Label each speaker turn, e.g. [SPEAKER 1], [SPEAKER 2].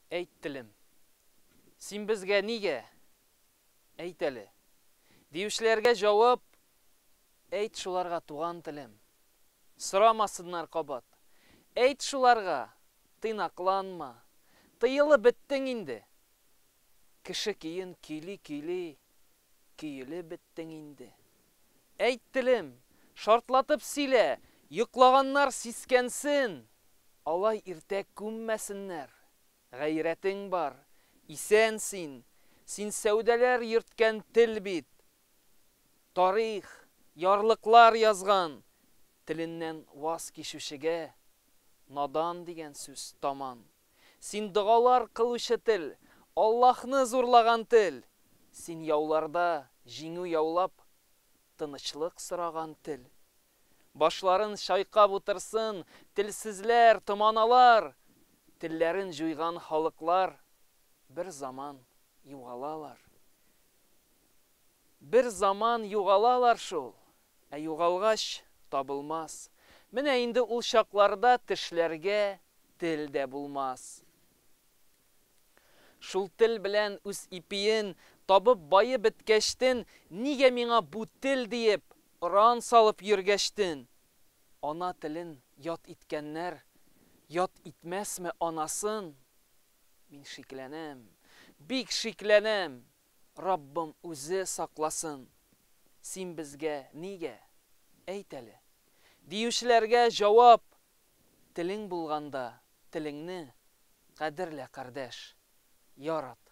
[SPEAKER 1] Әйт, телем. Син безгә нигә? Әйт әле. Диючеләргә җавап, Әйт шуларга, туган телем. Сорамасыннар кабат. Әйт шуларга, тыйнакланма. Тыелып беттең инде. Кеше көен көйли-көйли, Көелеп беттең инде. Әйт, телем, шартлатып сөйлә, йоклаганнар сискәнсен! Алай иртә күммәсеннәр! Гайрәтең бар, исән син, син сәүдәләр йөрткән тел бит! Тарих, ярлыклар язган, теленнән ваз кичүчегә надан дигән сүз таман. Син догалар кылучы тел, Аллаһны зурлаган тел! Син яуларда җиңү яулап, тынычлык сораган тел! Башларын чайкап утырсын телсезләр, томаналар! Телләрен җуйган халыклар бер заман югалалар. Бер заман югалалар шул! Ә югалгач, табылмас. Менә инде ул чакларда тешләргә тел дә булмас. Шул тел белән үз ипиен табып баеп беткәчтен, нигә миңа бу тел диеп оран салып йөргәчтен? Ана телен ят иткәннәр ят итмәсме анасын? Мин шикләнәм, бик шикләнәм. Раббым үзе сакласын, син безгә нигә, әйт әле? диючеләргә җавап, Телең булганда, телеңне кадерлә, кардәш, ярат.